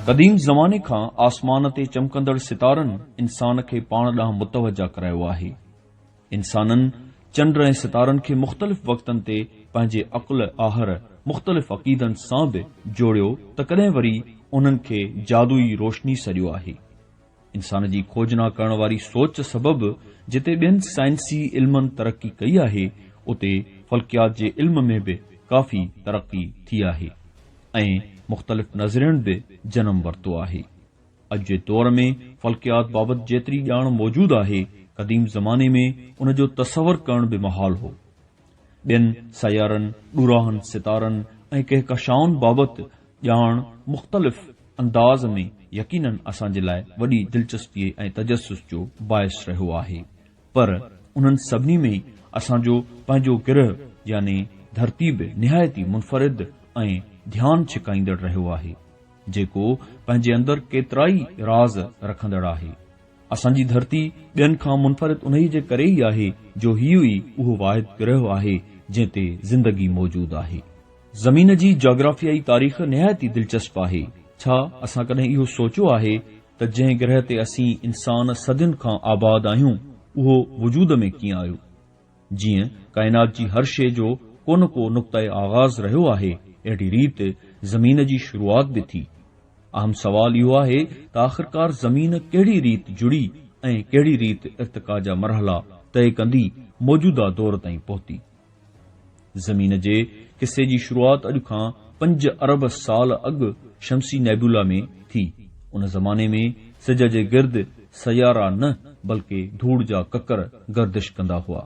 قديم زماني کان آسمان تي چمڪندڙ ستارن انسان کي پاڻ ڏانهن متوجهه ڪرايو آهي. انسانن چنڊ ۽ ستارن کي مختلف وقتن تي پنهنجي عقل آهر مختلف عقيدن سان به جوڙيو ته ڪڏهن وري انهن کي جادوئي روشني سڏيو آهي. انسان جي کوجنا ڪرڻ واري سوچ سبب جتي ٻين سائنسي علمن ترقي ڪئي آهي اتي فلڪيات جي علم ۾ به ڪافي ترقي ٿي آهي ۽ مختلف نظرين به جنم ورتو آهي. اڄ جي دور ۾ فلڪيات بابت جيتري ڄاڻ موجود آهي، قديم زماني ۾ ان جو تصور ڪرڻ به محال هو. ٻين سيارن، ڏوراهن ستارن ۽ ڪهڪشائن بابت ڄاڻ مختلف انداز ۾ يقيناً اسان جي لاء وڏي دلچسپيء ۽ تجسس جو باعث رهيو آهي، پر انهن سڀني ۾ اسان جو پنهنجو گرهه يعني ڌرتي به نهايت ئي منفرد ۽ ڌيان ڇڪائيندڙ رهيو آهي. جيڪو پنهنجي اندر ڪيترائي راز رکندڙ آهي. اسان جي ڌرتي ٻين کان منفرد انهيء جي ڪري ئي آهي جو هيء ئي اهو واحد گرهه آهي جنهن تي زندگي موجود آهي. زمين جي جاگرافيائي تاريخ نهايت ئي دلچسپ آهي. ڇا اسان ڪڏهن اهو سوچيو آهي ته جنهن گرهه تي اسين انسان صدين کان آباد آهيون، اهو وجود ۾ ڪيئن آيو؟ جيئن ڪائنات جي هر شيء جو ڪو نه ڪو نقطه آغاز رهيو آهي، اهڙي ريت زمين جي شروعات به ٿي. اهم سوال اهو آهي ته آخرڪار زمين ڪهڙي ريت جڙي ۽ ڪهڙي ريت ارتقا جا مرحلا طئي ڪندي موجوده دور تائين پهتي. زمين جي قصي جي شروعات اڄ کان پنج ارب سال اڳ شمسي نيبولا ۾ ٿي. ان زماني ۾ سج جي گرد سيارا نه بلڪه ڌوڙ جا ڪڪر گردش ڪندا هئا.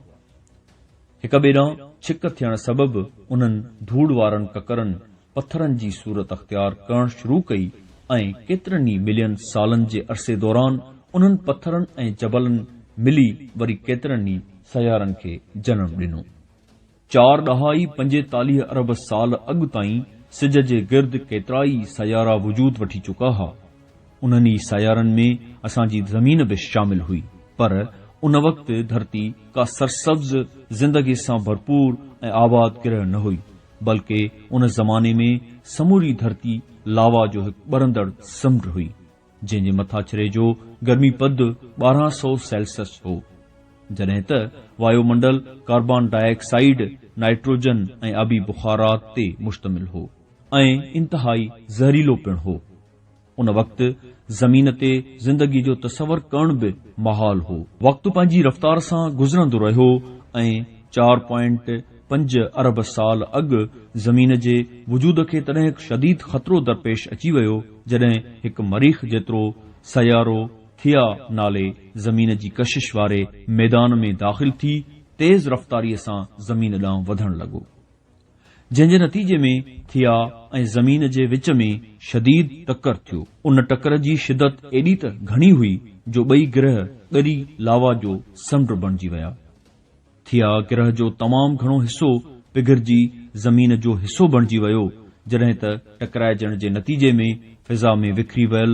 هڪ ٻئي ڏانهن ڇڪ ٿيڻ سبب انهن ڌوڙ وارن ڪڪرن پٿرن جي صورت اختيار ڪرڻ شروع ڪئي ۽ ڪيترن ئي ملين سالن جي عرصي دوران انهن پٿرن ۽ جبلن ملي وري ڪيترن ئي سيارن کي جنم ڏنو. چار ڏهائي پنجيتاليهه ارب سال اڳ تائين سج جي گرد ڪيترائي سيارا وجود وٺي چڪا ها. انهن ئي سيارن ۾ اسان جي زمين به شامل هئي. پر ان وقت ڌرتي ڪا سرسبز زندگي سان ڀرپور ۽ آباد گرهه نه هئي، بلڪه ان زماني ۾ سموري ڌرتي لاوا جو هڪ ٻرندڙ سمنڊ هئي. جنهن جي مٿاڇري جو گرمي پد ٻارهن سؤ سيلسس هو، جڏهن ته وايو منڊل ڪاربان ڊاء آڪسائيڊ، نائٽروجن ۽ آبي بخارات تي مشتمل هو ۽ انتهائي زهريلو پڻ هو. ان وقت زمين تي زندگي جو تصور ڪرڻ به محال هو. وقت پنهنجي رفتار سان گذرندو رهيو ۽ چار پوائنٽ پنج ارب سال اڳ زمين جي وجود کي تڏهن هڪ شديد خطرو درپيش اچي ويو جڏهن هڪ مريخ جيترو سيارو ٿيا نالي زمين جي ڪشش واري ميدان ۾ داخل ٿي تيز رفتاري سان زمين ڏانهن وڌڻ لڳو جنهن جي نتيجي ۾ ٿيا ۽ زمين جي وچ ۾ شديد ٽڪر ٿيو ان ٽڪر جي شدت ايڏي ته گهڻي هئي جو ٻئي گرهه ڳري لاوا جو سمنڊ بڻجي ويا. ٿيا، گرهه جو تمام گهڻو حصو پگهرجي زمين جو حصو بڻجي ويو، جڏهن ته ٽڪرائجڻ جي نتيجي ۾ فضا ۾ وکري ويل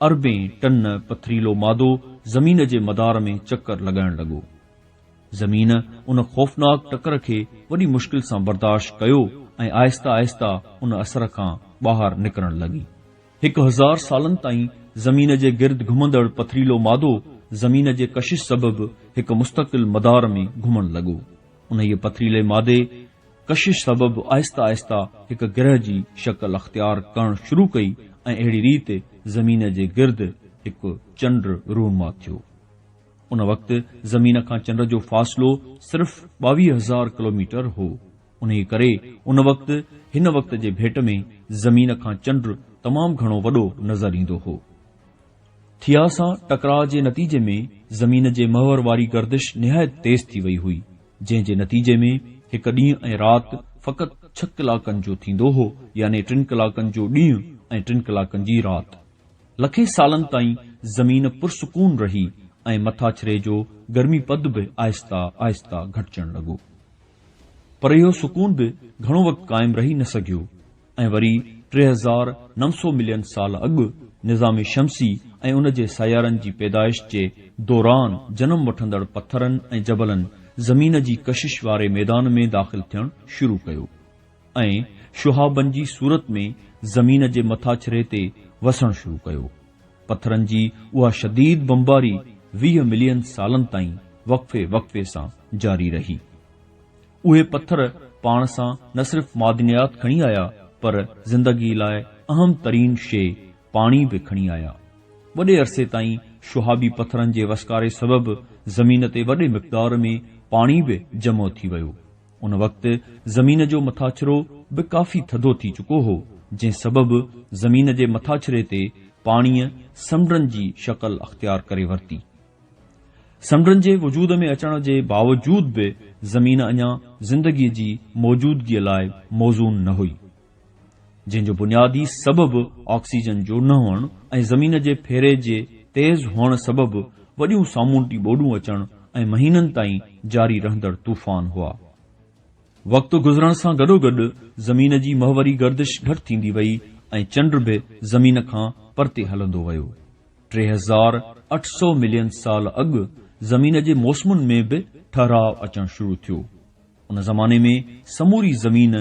اربين ٽن پٿريلو مادو زمين جي مدار ۾ چڪر لڳائڻ لڳو. زمين ان خوفناڪ ٽڪر کي وڏي مشڪل سان برداشت ڪيو ۽ آهسته آهسته ان اثر کان ٻاهر نڪرڻ لڳي. هڪ هزار سالن تائين زمين جي گرد گهمندڙ پٿريلو مادو زمين جي ڪشش سبب هڪ مستقل مدار ۾ گهمڻ لڳو. انهيء پٿريلي مادي ڪشش سبب آهستي آهستي هڪ گرهه جي شڪل اختيار ڪرڻ شروع ڪئي ۽ اهڙي ريت زمين جي گرد هڪ چنڊ رونما ٿيو. ان وقت زمين کان چنڊ جو فاصلو صرف ٻاويهه هزار ڪلوميٽر هو. انهيء ڪري ان وقت هن وقت جي ڀيٽ ۾ زمين کان چنڊ تمام گهڻو وڏو نظر ايندو هو. ٿيا سان ٽڪراء جي نتيجي ۾ زمين جي محور واري گردش نهايت تيز ٿي وئي هئي، جنهن جي نتيجي ۾ هڪ ڏينهن ۽ رات فقط ڇهه ڪلاڪن جو ٿيندو هو، يعني ٽن ڪلاڪن جو ڏينهن ۽ ٽن ڪلاڪن جي رات. لکين سالن تائين زمين پرسڪون رهي ۽ مٿاڇري جو گرمي پد به آهسته آهسته گهٽجڻ لڳو. پر اهو سڪون به گهڻو وقت قائم رهي نه سگهيو ۽ وري ٽي هزار نو سؤ ملين سال اڳ نظام شمسي ۽ ان جي سيارن جي پيدائش جي دوران جنم وٺندڙ پٿرن ۽ جبلن زمين جي ڪشش واري ميدان ۾ داخل ٿيڻ شروع ڪيو. ۽ شهابن جي صورت ۾ زمين جي مٿاڇري تي وسڻ شروع ڪيو. پٿرن جي اها شديد بمباري ويهه ملين سالن تائين وقفي وقفي سان جاري رهي. اهي پٿر پاڻ سان نه صرف معدنيات کڻي آيا پر زندگي لاء اهم ترين شيء پاڻي به کڻي آيا. وڏي عرصي تائين شهابي پٿرن جي وسڪاري سبب زمين تي وڏي مقدار ۾ پاڻي به جمع ٿي ويو. ان وقت زمين جو مٿاڇرو به ڪافي ٿڌو ٿي چڪو هو، جنهن سبب زمين جي مٿاڇري تي پاڻيء سمنڊن جي شڪل اختيار ڪري ورتي. سمنڊن جي وجود ۾ اچڻ جي باوجود به زمين اڃا زندگيء جي موجودگيء لاء موزون نه هئي. جنهن جو بنيادي سبب آڪسيجن جو نه هئڻ ۽ زمين جي ڦيري جي تيز هئڻ سبب وڏيون سامونڊي ٻوڏون اچڻ ۽ مهينن تائين جاري رهندڙ طوفان هئا. وقت گذرڻ سان گڏوگڏ زمين جي محوري گردش گهٽ ٿيندي وئي ۽ چنڊ به زمين کان پرتي هلندو ويو. ٽي هزار اٺ سؤ ملين سال اڳ زمين جي موسمن ۾ به ٺهراء اچڻ شروع ٿيو. ان زماني ۾ سموري زمين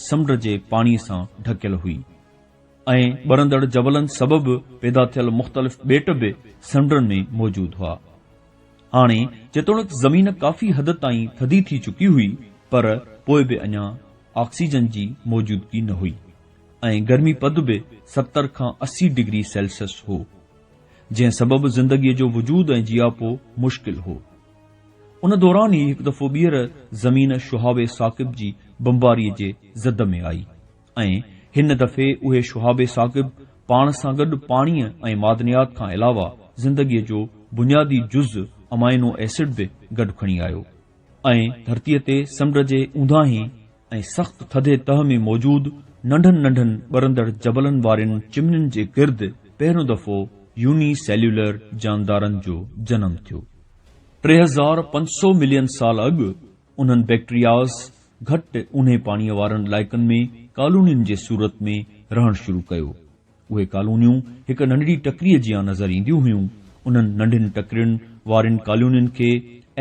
سمنڊ جي پاڻي سان ڍڪيل هئي ۽ ٻرندڙ جبلن سبب پيدا ٿيل مختلف ٻيٽ به سمنڊن ۾ موجود هئا. هاڻي جيتوڻيڪ زمين ڪافي حد تائين ٿڌي ٿي چڪي هئي پر پوء به اڃا آڪسيجن جي موجودگي نه هئي ۽ گرمي پد به ستر کان اسي ڊگري سيلسيس هو جنهن سبب زندگي جو وجود ۽ جياپو مشڪل هو. ان دوران ئي هڪ دفعو ٻيهر زمين شهاب ثاقب جي بمباريء جي زد ۾ آئي ۽ هن دفعي اهي شهاب ثاقب پاڻ سان گڏ پاڻيء ۽ معدنيات کان علاوه زندگيء جو بنيادي جز امائنو ايسڊ به گڏ کڻي آيو ۽ ڌرتيء تي سمنڊ جي اونداهين ۽ سخت ٿڌي تهه ۾ موجود ننڍن ننڍن ٻرندڙ جبلن وارين چمنين جي گرد پهريون دفعو يوني سيليولر جاندارن جو جنم ٿيو. ٽي هزار پنج سؤ ملين سال اڳ انهن بيڪٽرياز گهٽ اونهي پاڻيء وارن علائقن ۾ ڪالونين جي صورت ۾ رهڻ شروع ڪيو. اهي ڪالونيون هڪ ننڍڙي ٽڪريء جيان نظر اينديون هيون. انهن ننڍين ٽڪرين وارين ڪالونين کي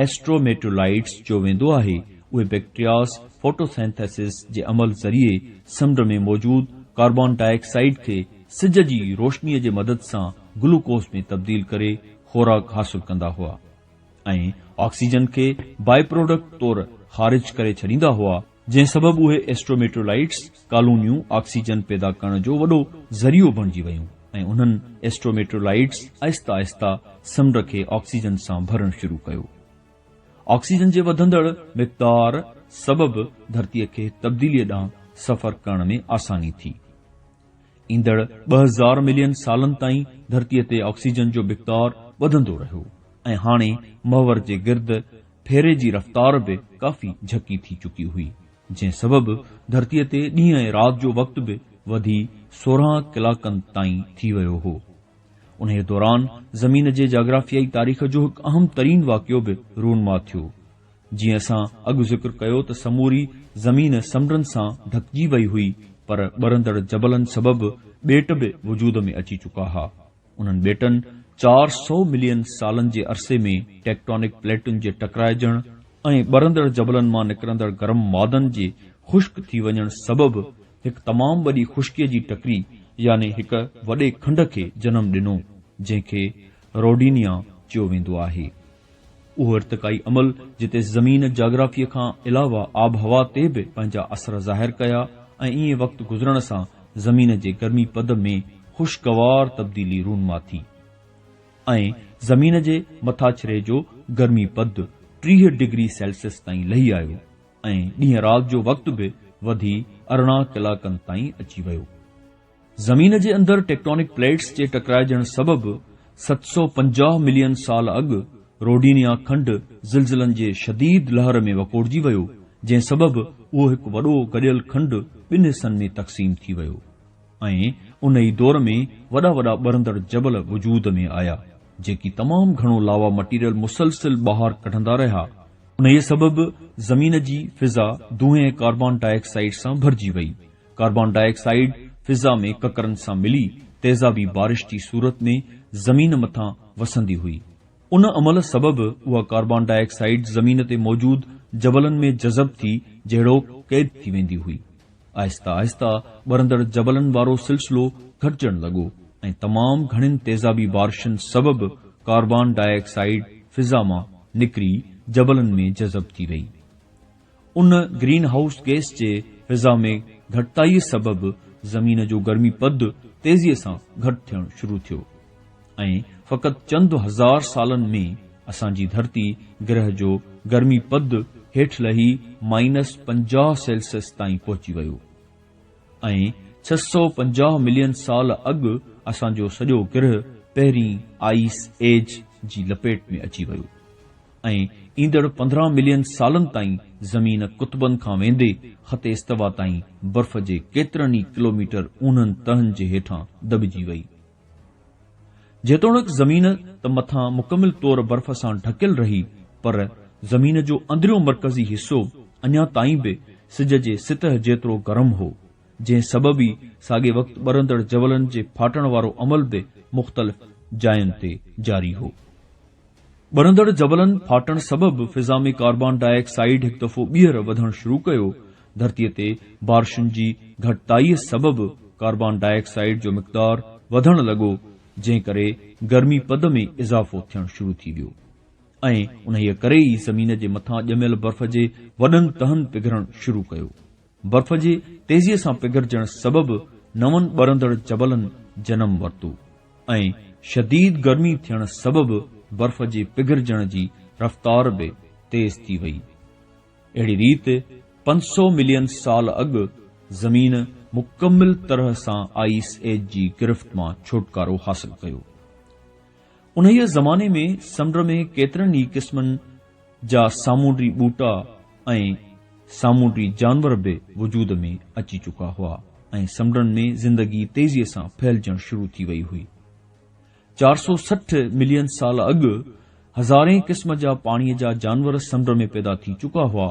Astrometeorlites چيو ويندو آهي. اهي بئڪٽرياس Photosynthesis جي عمل ذريعي سمنڊ ۾ موجود ڪاربان ڊاء آڪسائيڊ کي سج جي روشنيء جي مدد سان گلوڪوز ۾ تبديل ڪري خوراڪ حاصل ڪندا هئا ۽ آڪسيجن کي Byproduct طور خارج ڪري ڇڏيندا هئا. جنهن سبب اهي ايسٽروميٽرولائٽس ڪالونيون آڪسيجن پيدا ڪرڻ جو وڏو ذريعو بڻجي ويون ۽ انهن ايسٽروميٽرولائٽس آهستي آهستي سمنڊ کي آڪسيجن سان ڀرڻ شروع ڪيو. آڪسيجن جي وڌندڙ مقدار سبب ڌرتيء کي تبديليء ڏانهن سفر ڪرڻ ۾ آساني ٿي. ايندڙ ٻه هزار ملين سالن تائين ڌرتيء تي آڪسيجن جو مقدار وڌندو رهيو ۽ هاڻي محور جي گرد ڦيري جي رفتار به ڪافي جهڪي ٿي چڪي هئي، جنهن سبب ڌرتيء تي ڏينهن ۽ رات جو وقت به وڌي سورهن ڪلاڪن تائين ٿي ويو هو. انهيء دوران زمين جي جاگرافيائي تاريخ جو هڪ اهم ترين واقعو به رونما ٿيو. جيئن اسان اڳ ذڪر ڪيو ته سموري زمين سمنڊن سان ڍڪجي وئي هئي، پر ٻرندڙ جبلن سبب ٻيٽ به وجود ۾ اچي چڪا ها. انهن ٻيٽن چار سؤ ملين سالن جي عرصي ۾ ٽيڪٽونڪ پليٽن جي ٽڪرائجڻ ۽ ٻرندڙ جبلن مان نڪرندڙ گرم مادن جي خشڪ ٿي وڃڻ سبب هڪ تمام وڏي خشڪيء جي ٽڪري يعني هڪ وڏي کنڊ کي جنم ڏنو، جنهن کي روڊينيا چيو ويندو آهي. اهو ارتقائي عمل جتي زمين جاگرافيء کان علاوه آبهوا تي به پنهنجا اثر ظاهر ڪيا ۽ ائين وقت گذرڻ سان زمين جي گرمي پد ۾ خوشگوار تبديلي رونما ٿي ۽ زمين جي مٿاڇري جو گرمي پد ٽيهه ڊگري سيلسيس تائين لهي آيو ۽ ڏينهن رات جو وقت به وڌي ارڙهن ڪلاڪن تائين اچي ويو. زمين جي اندر ٽيڪٽونڪ پليٽس جي ٽڪرائجڻ سبب ست سؤ پنجاهه ملين سال اڳ روڊينيا کنڊ زلزلن جي شديد لهر ۾ وڪوڙجي ويو، جنهن سبب اهو هڪ وڏو گڏيل کنڊ ٻن حصن ۾ تقسيم ٿي ويو ۽ ان ئي دور ۾ وڏا وڏا ٻرندڙ جبل وجود ۾ آيا، جيڪي تمام گهڻو لاوا مٽيريل مسلسل ٻاهر ڪڍندا رهيا، انهيء سبب زمين جي فضا دونهين ۽ ڪاربان ڊاء آڪسائيڊ سان ڀرجي وئي. ڪاربان ڊاء آڪسائيڊ فضا ۾ ڪڪرن سان ملي تيزابي بارش جي صورت ۾ زمين مٿان وسندي هئي. ان عمل سبب اها ڪاربان ڊاء آڪسائيڊ زمين تي موجود جبلن ۾ جذب ٿي جهڙوڪ قيد ٿي ويندي هئي. آهستي آهستي ٻرندڙ جبلن وارو سلسلو گهٽجڻ لڳو ۽ تمام گهڻين تيزابي بارشن سبب ڪاربان ڊاء آڪسائيڊ فضا مان نڪري جبلن ۾ جذب ٿي وئي. ان گرين هائوس گئس جي فضا ۾ گهٽتائيء سبب زمين جو گرمي پد تيزيء سان گهٽ ٿيڻ شروع ٿيو ۽ فقط چند هزار سالن ۾ اسان جي ڌرتي گرهه جو گرمي پد هيٺ لهي مائنس پنجاهه سيلسيس تائين پهچي ويو ۽ ڇهه سؤ پنجاهه ملين سال اڳ اسان جو سڄو گرهه پهرين آئيس ايج جي لپيٽ ۾ اچي ويو. ۽ ايندڙ پندرهن ملين سالن تائين زمين قطبن کان ويندي خط استوا تائين برف جي ڪيترن ئي ڪلوميٽر اونهن تهن جي هيٺان دٻجي وئي. جيتوڻڪ زمين ته مٿان مڪمل طور برف سان ڍڪيل رهي پر زمين جو اندريون مرڪزي حصو اڃا تائين به سج جي سطح جيترو گرم هو جنهن سبب ئي ساڳي وقت ٻرندڙ جبلن جي ڦاٽڻ وارو عمل به مختلف جاين تي جاري هو. ٻرندڙ جبلن ڦاٽڻ سبب فضا ۾ ڪاربان ڊاء آڪسائيڊ هڪ دفعو ٻيهر وڌڻ شروع ڪيو، ڌرتي تي بارشن جي گهٽتائيء سبب ڪاربان ڊاء آڪسائيڊ جو مقدار وڌڻ لڳو، جنهن ڪري گرمي پد ۾ اضافو ٿيڻ شروع ٿي ويو ۽ انهيء ڪري ئي زمين جي مٿان ڄميل برف جي وڏن تهن پگهرڻ شروع ڪيو. برف جي تيزيء سان پگهرجڻ سبب نون ٻرندڙ جبلن جنم ورتو ۽ شديد گرمي ٿيڻ سبب برف جي پگهرجڻ جي رفتار به تيز ٿي وئي. اهڙي ريت پنج سؤ ملين سال اڳ زمين مڪمل طرح سان آئيس ايج جي گرفت مان ڇوٽڪارو حاصل ڪيو. انهيء زماني ۾ سمنڊ ۾ ڪيترن ئي قسمن جا سامونڊي ٻوٽا ۽ سامونڊي جانور به وجود ۾ اچي چڪا هئا ۽ سمنڊن ۾ زندگي تيزيء سان ڦهلجڻ شروع ٿي وئي هئي. چار سؤ سٺ ملين سال اڳ هزارين قسم جا پاڻيء جا جانور سمنڊ ۾ پيدا ٿي چڪا هئا.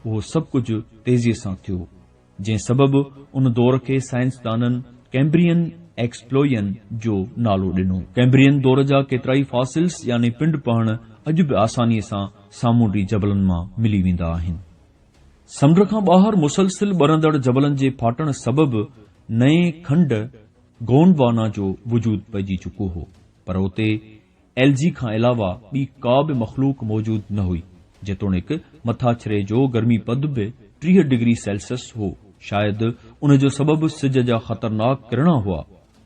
اهو سڀ ڪجهه تيزيء سان ٿيو. جنهن سبب ان دور کي سائنسدانن ڪئمبرين ايڪسپلوئين جو نالو ڏنو. ڪئمبرين دور جا ڪيترائي فاسلز يعني پنڊ پهڻ اڄ به آسانيء سان سامونڊي جبلن مان ملي ويندا آهن. سمنڊ کان ٻاهر مسلسل ٻرندڙ جبلن جي ڦاٽڻ سبب نئين کنڊ گونڊوانا جو وجود پئجي چڪو هو پر اتي ايل جي کان علاوه ٻي ڪا به مخلوق موجود نه هئي، جيتوڻيڪ مٿاڇري جو گرمي پد به ٽيهه ڊگري سيلسيس هو، شايد ان جو سبب سج جا خطرناڪ ڪرڻا هئا،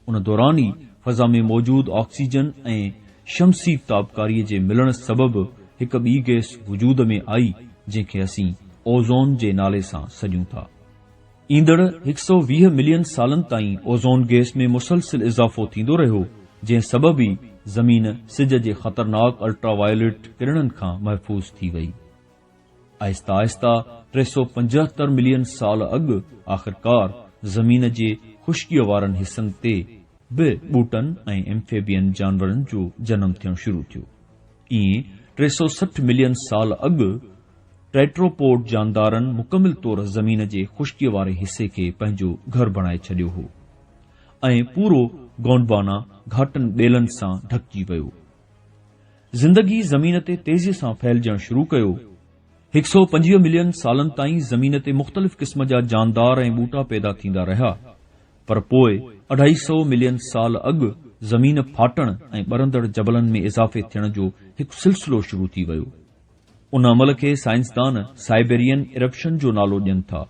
ان دوران ئي فضا ۾ موجود آڪسيجن ۽ شمسي تابڪاري جي ملڻ سبب هڪ ٻي گئس وجود ۾ آئي، جنهن کي اسين اوزون جي نالي سان سڏيون ٿا. ايندڙ هڪ سؤ ويهه ملين سالن تائين اوزون گئس ۾ مسلسل اضافو ٿيندو رهيو، جنهن سبب ئي زمين سج جي خطرناڪ الٽرا وائليٽ ڪرڻن کان محفوظ ٿي وئي. آهستي آهستي ٽي سؤ پنجهتر ملين سال اڳ آخرڪار زمين جي خشڪيء وارن حصن تي به ٻوٽن ۽ Amphibian جانورن جو جنم ٿيڻ شروع ٿيو. ائين ٽي سؤ سٺ ملين سال اڳ ٽيٽروپوڊ جاندارن مڪمل طور زمين جي خشڪيء واري حصي کي پنهنجو گهر بڻائي ڇڏيو هو ۽ پورو گونڊوانا گهاٽن ٻيلن سان ڍڪجي ويو. زندگي زمين تي تيزيء سان ڦهلجڻ شروع ڪيو. هڪ سؤ پنجويهه ملين سالن تائين زمين تي مختلف قسم جا جاندار ۽ ٻوٽا پيدا ٿيندا رهيا، پر پوء اڍائي سئو ملين سال اڳ زمين ڦاٽڻ ۽ ٻرندڙ جبلن ۾ اضافي ٿيڻ جو هڪ سلسلو شروع ٿي ويو. ان عمل کي سائنسدان سائبيرين ارپشن جو نالو ڏين ٿا.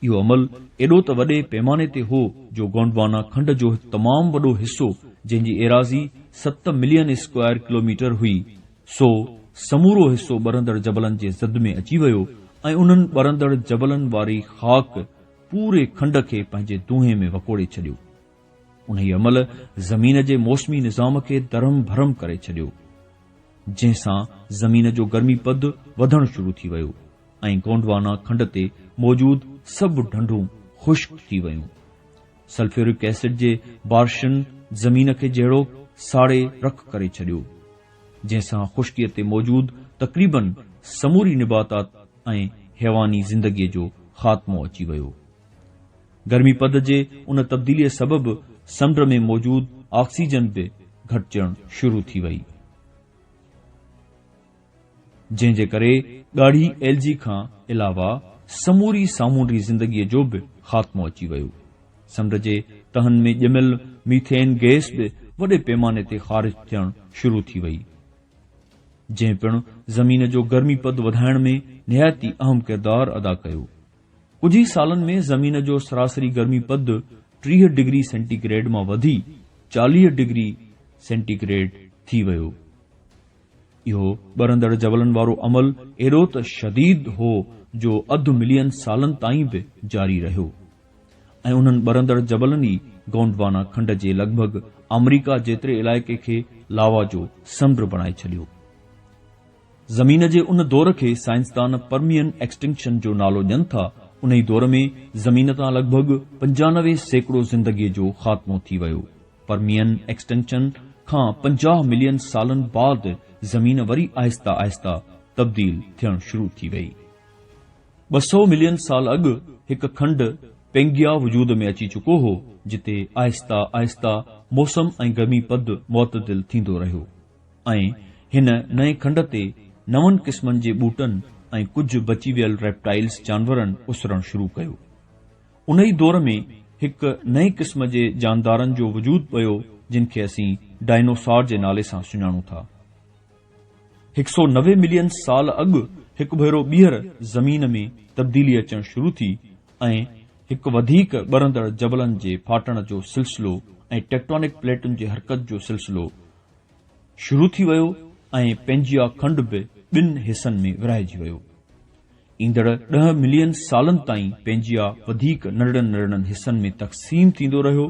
اهو عمل ايڏو ته وڏي پيماني تي هو جو گونڊوانا کنڊ جو هڪ تمام وڏو حصو جنهن جي ايراضي ست ملين اسڪوائر ڪلوميٽر هئي سو سمورو حصو ٻرندڙ جبلن جي زد ۾ اچي ويو ۽ انهن ٻرندڙ جبلن واري خاڪ پوري کنڊ کي پنهنجي دونهين ۾ وڪوڙي ڇڏيو. انهيء عمل زمين جي موسمي نظام کي درهم برهم ڪري ڇڏيو، جنهن سان زمين جو گرمي پد وڌڻ شروع ٿي ويو ۽ گونڊوانا کنڊ تي موجود سڀ ڍنڍون خشڪ ٿي ويون. سلفيورڪ ايسڊ جي بارشن زمين کي جهڙوڪ ساڙي رک ڪري ڇڏيو، جنهن سان خشڪيء تي موجود تقريباً سموري نباتات ۽ حيواني زندگيء جو خاتمو اچي ويو. گرمي پد جي ان تبديليء سبب سمنڊ ۾ موجود آڪسيجن به گهٽجڻ شروع ٿي وئي، جنهن جي ڪري ڳاڙهي ايلجي کان علاوه سموري سامونڊي زندگيء جو به خاتمو اچي ويو. سمنڊ جي تهن ۾ ڄميل ميٿين گئس به وڏي پيماني تي خارج ٿيڻ شروع ٿي وئي، جنهن پڻ زمين جو گرمي پد وڌائڻ ۾ نهايت ئي اهم ڪردار ادا ڪيو. ڪجهه ئي سالن ۾ زمين جو سراسري گرمي پد ٽيهه ڊگري سينٽي گريڊ مان وڌي چاليهه ڊگري سينٽي گريڊ ٿي ويو. اهو ٻرندڙ جبلن وارو عمل ايڏو ته شديد هو جو اڌ ملين سالن تائين به جاري رهيو. ۽ انهن ٻرندڙ جبلن ئي گونڊوانا کنڊ جي لڳ ڀڳ آمريڪا جيتري علائقي کي لاوا جو سمنڊ بڻائي ڇڏيو. زمين جي ان دور کي سائنسدان پرميئن ايڪسٽنڪشن جو نالو ڏين ٿا، انهي دور ۾ زمين تان لڳ ڀڳ پنجانوي سيڪڙو زندگي جو خاتمو ٿي ويو. پرميئن ايڪسٽنڪشن کان پنجاهه ملين سالن بعد زمين وري آهسته آهسته تبديل ٿيڻ شروع ٿي ويئي. ٻه سؤ ملين سال اڳ هڪ کنڊ، پينگيا، وجود ۾ اچي چڪو هو، جتي آهسته آهسته موسم ۽ گرمي پد معتدل ٿيندو رهيو ۽ هن نئين کنڊ تي نون قسمن جي ٻوٽن ۽ ڪجهه بچي ويل ريپٽائلز جانورن اسرڻ شروع ڪيو. انهي دور ۾ هڪ نئين قسم جي جاندارن جو وجود پيو جن کي اسين ڊائنوسار جي نالي سان سڃاڻون ٿا. هڪ سئو نوي ملين سال اڳ هڪ ڀيرو ٻيهر زمين ۾ تبديلي اچڻ شروع ٿي ۽ هڪ وڌيڪ ٻرندڙ جبلن جي ڦاٽڻ جو سلسلو ۽ ٽيڪٽونڪ پليٽن جي حرڪت جو سلسلو شروع ٿي ويو ۽ پينجيا کنڊ به ٻن حصن ۾ ورهائجي ويو. ايندڙ ڏهه ملين سالن تائين پئنجيا وڌيڪ ننڍڙن ننڍڙن حصن ۾ تقسيم ٿيندو رهيو.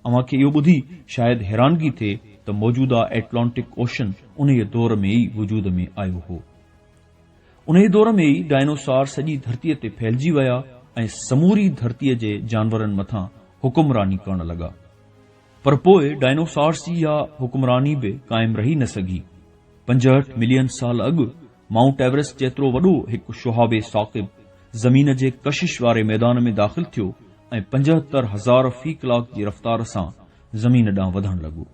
اوهان کي اهو ٻڌي شايد حيرانگي ٿئي ته موجوده ائٽلانٽڪ اوشن انهيء دور ۾ ئي وجود ۾ آيو هو. انهيء دور ۾ ئي ڊائنوسار سڄي ڌرتيء تي ڦهلجي ويا ۽ سموري ڌرتيء جي جانورن مٿان حڪمراني ڪرڻ لڳا. پر پوء ڊائنوسارس جي اها حڪمراني به قائم رهي نه سگهي. پنجهٺ ملين سال اڳ، مائونٽ ايورسٽ جيترو وڏو هڪ شهاب ثاقب زمين جي ڪشش واري ميدان ۾ داخل ٿيو ۽ پنجهتر هزار في ڪلاڪ جي رفتار سان زمين ڏانهن وڌڻ لڳو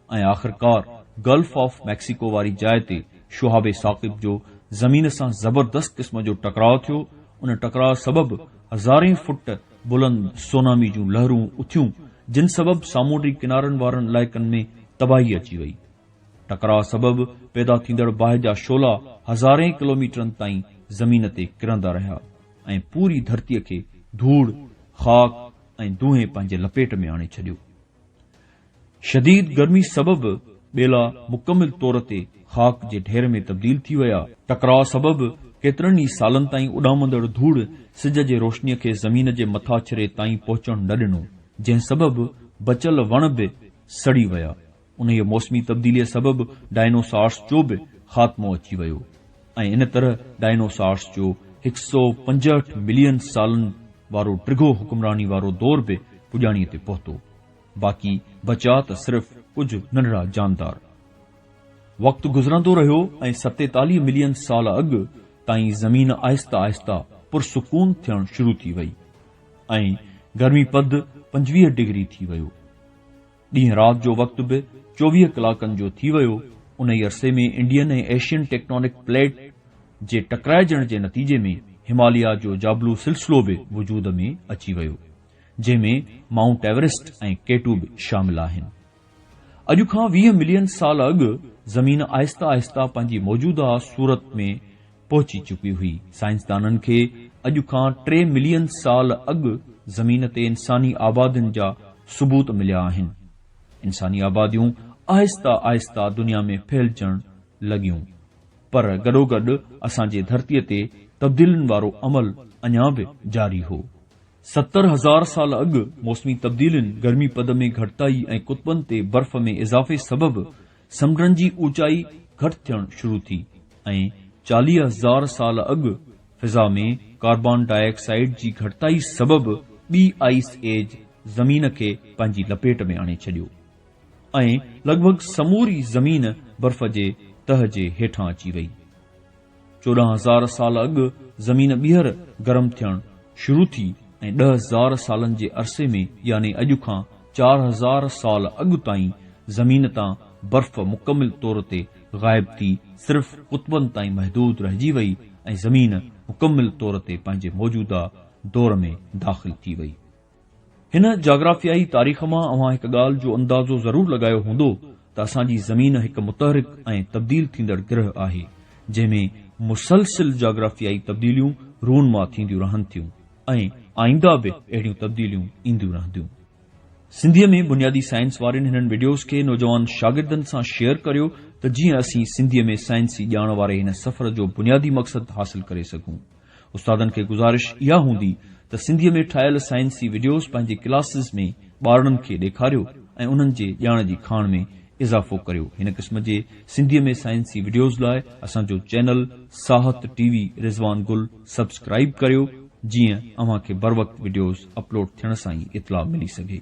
۽ آخرڪار گلف آف ميڪسيڪو واري جاء تي شهاب ثاقب جو زمين سان زبردست قسم جو ٽڪراء ٿيو ان ٽڪراء سبب هزارين فٽ بلند سونامي جون لهرون اٿيون جن سبب سامونڊي ڪنارن وارن علائقن ۾ تباهي اچي وئي ٽڪراء سبب پيدا ٿيندڙ باهه جا شعلا هزارين ڪلوميٽرن تائين زمين تي ڪرندا رهيا ۽ پوري ڌرتي کي ڌوڙ، خاڪ ۽ دونهين پنهنجي لپيٽ ۾ آڻي ڇڏيو. شديد گرمي سبب ٻيلا مڪمل طور تي خاڪ جي ڍير ۾ تبديل ٿي ويا. ٽڪراء سبب ڪيترن ئي سالن تائين اڏامندڙ ڌوڙ سج جي روشنيء کي زمين جي مٿاڇري تائين پهچڻ نه ڏنو، جنهن سبب بچيل وڻ به سڙي ويا. انهيء موسمي تبديليء سبب ڊائنوسارس جو به خاتمو اچي ويو ۽ ان طرح ڊائنوسارس جو هڪ سئو پنجهٺ ملين سالن وارو ڊگهو حڪمراني وارو دور به پڄاڻيء تي پهتو. باقي بچا ته صرف ڪجهه ننڍڙا جاندار. وقت گذرندو رهيو ۽ ستيتاليهه ملين سال اڳ تائين زمين آهستي آهستي پرسڪون ٿيڻ شروع ٿي وئي ۽ گرمي پد پنجويهه ڊگري ٿي ويو. ڏينهن رات جو وقت به چوويهه ڪلاڪن جو ٿي ويو، انهي عرصي ۾ انڊين ۽ ايشين ٽيڪٽانڪ پليٽ جي ٽڪرائجڻ جي نتيجي ۾ هماليا جو جابلو سلسلو به وجود ۾ اچي ويو، جنهن ۾ مائونٽ ايوريسٽ ۽ ڪيٽو به شامل آهن. اڄ کان ويهه ملين سال اڳ زمين آهسته آهسته پنهنجي موجوده صورت ۾ پهچي چڪي هئي. سائنسدانن کي اڄ کان ٽي ملين سال اڳ زمين تي انساني آبادين جا ثبوت مليا آهن. انساني آباديون آهسته آهسته دنيا ۾ ڦهلجڻ لڳيون پر گڏوگڏ اسان جي ڌرتي تي تبديلين وارو عمل اڃا به جاري هو. ستر هزار سال اڳ موسمي تبديلين، گرمي پد ۾ گهٽتائي ۽ قطبن تي برف ۾ اضافي سبب سمنڊن جي اوچائي گهٽ ٿيڻ شروع ٿي ۽ چاليهه هزار سال اڳ فضا ۾ ڪاربان ڊاء آڪسائيڊ جي گهٽتائي سبب ٻي آئيس ايج زمين کي پنهنجي لپيٽ ۾ آڻي ڇڏيو ۽ لڳ ڀڳ سموري زمين برف جي تهه جي هيٺان اچي وئي. چوڏهن هزار سال اڳ زمين ٻيهر گرم ٿيڻ شروع ٿي ۽ ڏهه هزار سالن جي عرصي ۾ يعني اڄ کان چار هزار سال اڳ تائين زمين تان برف مڪمل طور تي غائب ٿي صرف قطبن تائين محدود رهجي وئي ۽ زمين مڪمل طور تي پنهنجي موجوده دور ۾ داخل ٿي وئي. هن جاگرافيائي تاريخ مان اوهان هڪ ڳالهه جو اندازو ضرور لڳايو هوندو ته اسان جي زمين هڪ متحرڪ ۽ تبديل ٿيندڙ گرهه آهي، جنهن ۾ مسلسل جاگرافيائي تبديليون رونما ٿينديون رهن ٿيون ۽ آئينده به اهڙيون تبديليون اينديون رهنديون. سنڌيء ۾ بنيادي سائنس وارين هنن وڊيوز کي نوجوان شاگردن سان شيئر ڪريو ته جيئن اسين سنڌيء ۾ سائنسي ڄاڻ واري هن سفر جو بنيادي مقصد حاصل ڪري سگهون. استادن کي گذارش اها هوندي ته سنڌيء ۾ ٺاهيل سائنسي وڊيوز پنهنجي ڪلاسز ۾ ٻارڙن کي ڏيکاريو ۽ انهن جي ڄاڻ جي کاڻ ۾ اضافو ڪريو هن قسم جي سنڌيء ۾ سائنسي وڊيوز لاء اسان جو channel Sahat T V Rizwan Gul subscribe ڪريو جيئن اوهان کي بروقت وڊيوز اپلوڊ ٿيڻ سان ئي اطلاع ملي سگهي.